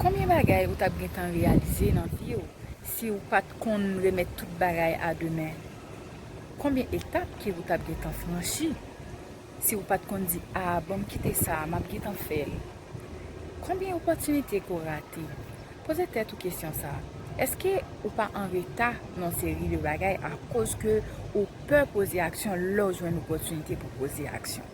Konbyen bagay ou tap gentan reyalize nan vi w si w pat konn remèt tout bagay a demen? Konbyen etap ki ou tap gentan franchi si w pat konn di a banm kite sa a map gentan fè l? Konbyen opòtinite ke w rate? Poze tèt ou kesyon sa, èske ou pa an reta nan yon seri de bagay akoz ke ou pè poze aksyon lè w jwenn opòtinite pou poze aksyon?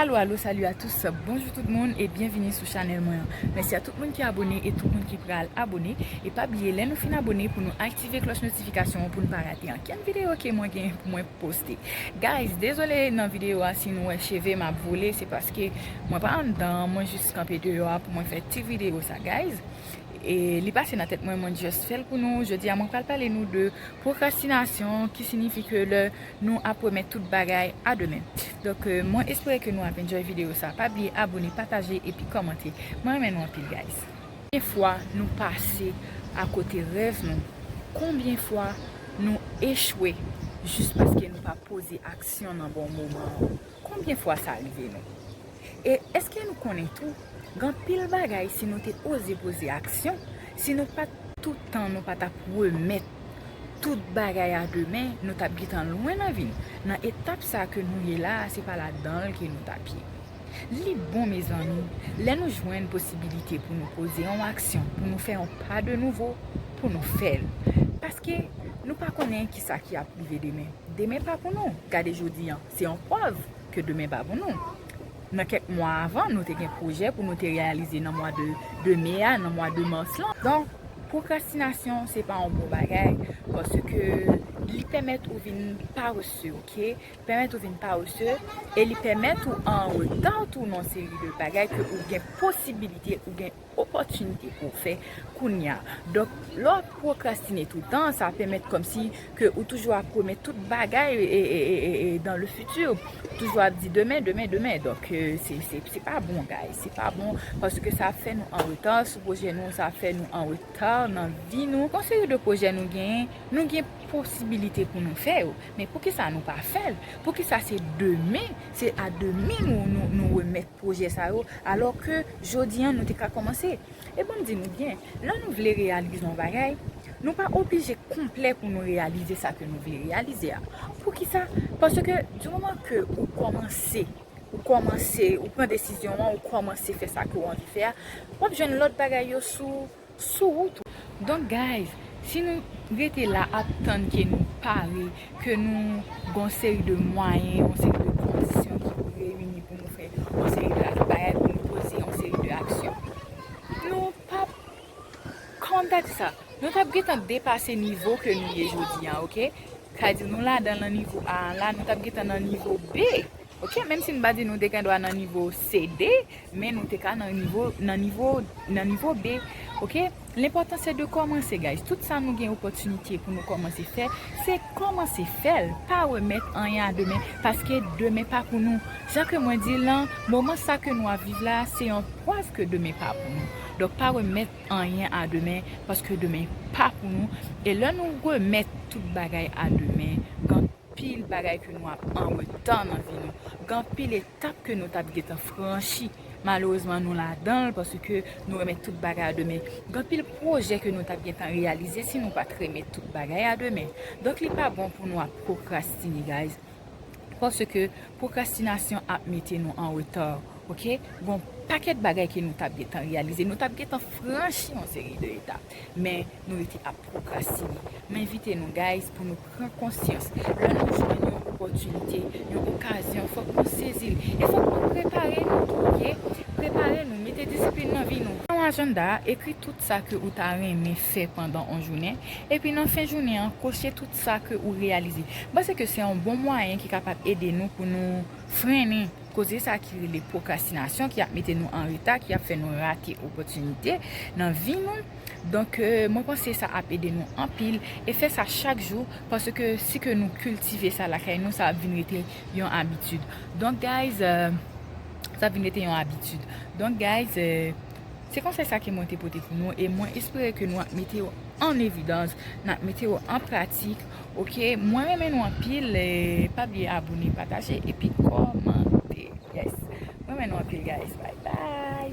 Alo alo salut a tous bonjou tout moun e byenvini sou chanèl mwen an mèsi a tout moun ki abone e tout moun ki pral abone e pa bliye lè nou fin abone pou nou aktive klòch notifikasyon an pou nou pa rate ankenn videyo ke mwen gen pou mwen poste guys dezole nan videyo a si nou wè cheve m ap vole se paske mwen pa anndan an mwen jis kanpe deyò a pou mwen fè ti videyo sa guys e li pase nan tèt mwen mwen just fèl pou nou jodi a mwen pral pale nou de pwokrastinasyon ki sinifi ke lè Nou ap remèt tout bagay a demen. Donk mwen espere ke nou ap enjoy video sa. Pa bliye abone, pataje epi kòmante. Mwen renmen nou anpil guys. Konbyen fwa nou pase akote rèv nou? Konbyen fwa nou echwe jis paske nou pa poze aksyon nan bon moman an? Konbyen fwa sa rive nou? E eske nou konnen tou gen anpil bagay si nou te oze poze aksyon, si nou pat tout tan nou pa tap remèt tout bagay a demen, nou tap gentan lwen nan vi n, nan etap sa ke nou ye la se pa ladanl ke nou tap ye. Li bon mezanmi lè nou jwenn posibilite pou nou poze yon aksyon, pou nou fè yon pa de nouvo, pou nou fèl. Paske nou pa konnen kisa ki ap rive demen. Demen pa pou nou, gade jodi an. Se yon prèv ke demen pa pou nou. Nan kèk mwa avan, nou te gen pwojè pou nou te reyalize nan mwa de me a, nan mwa de mars lan. Donk, pwokrastinasyon se pa yon bon bagay, paske li pèmèt ou vin parese, ok, li pèmèt ou vin parese, e li pèmèt ou an reta tou nan yon seri de bagay ke ou gen posibilite, ou gen. opòtinite pou w fè kounya. Donk, lè w pwokrastine toutan, sa pèmèt kòmsi ke ou toujou ap pwomèt tout bagay dan le fiti. Ou toujou ap di demen, demen, demen. Donk, se pa bon guys. Se pa bon paske sa ap fè nou an reta sou pwojè nou. Sa ap fè nou an reta nan vi nou. Gon seri de pwojè nou genyen, nou gen posibilite pou nou fè yo. Men poukisa nou pa fè l? Poukisa se demen, se a demen nou remèt? pwojè sa yo alò ke jodi an nou te ka kòmanse e banm di nou byen lè nou vle reyalize yon bagay nou pa oblije konplè pou nou reyalize sa ke nou vle reyalize a poukisa paske di moman ke ou kòmanse ou kòmanse ou pran desizyon an ou kòmanse fè sa ke ou anvi fè a wap jwenn lòt bagay yo sou sou wout ou. Donk guys si nou rete la ap tann ke nou pare, ke nou gon seri de mwayen, yon seri de kondisyon ki pou reyini pou nou fè yon seri de bagay, pou nou poze yon seri de aksyon. Nou pap, kòman m ta di sa, nou tap gentan depase nivo ke nou ye jodi an ok. Sa di nou ladan lan nivo A an la, nou tap gentan nan nivo B. Ok menm si n pa di nou te gendwa nan nivo CD men nou te ka nan nivo nan nivo nan nivo B ok lenpòtan se de kòmanse guys tout sa nou gen opòtinite pou nou kòmanse fè se kòmanse fè l pa remèt anyen a demen paske demen pa pou nou jan ke mwen di lan moman sa ke nou ap viv la se yon prèv ke demen pa pou nou donk pa remèt anyen a demen paske demen pa pou nou e lè nou remèt tout bagay a demen kan Anpil bagay ke nou ap an retan nan vi nou. Gen anpil etap ke nou tap gentan franchi. Malerezman nou ladanl paske nou renmen tout bagay a demen. Gen anpil pwojè ke nou tap gentan reyalize si nou pat renmen tout bagay a demen. Donk li pa bon pou nou ap pwokrastine guys. Paske pwokrastinasyon ap mete nou an reta ok. Gon pakèt bagay ke nou tap gentan reyalize. Nou tap gentan franchi yon seri de etap. Men. nou rete ap pwokrastine. M envite nou guys pou nou pran konsyans lè nou jwenn yon opòtinite, yon okazyon fòk nou sezi l e fòk nou prepare nou tou ok, prepare nou, mete disiplin nan vi nou. Nan ajanda a, ekri tout sa ke ou ta renmen fè pandan on jounen, epi nan fen jounen an koche tout sa ke ou reyalize. M panse ke se yon bon mwayen ki kapab ede nou pou nou frennen koze sa ki rele pwokrastinasyon ki ap mete nou an reta, ki ap fè nou rate opòtinite nan vi nou. Donk mwen panse sa ap ede nou anpil e fè sa chak jou paske si ke nou kiltive sa lakay nou sa ap vin rete yon abitid donk guys sa ap vin rete yon abitid donk guys se konsèy sa ke mwen te pote pou nou e mwen espere ke nou ap mete yo an evidans n ap mete yo an pratik ok mwen renmen nou anpil pa bliye abone pataje epi kòmante yes mwen renmen nou anpil guys bayy bayy.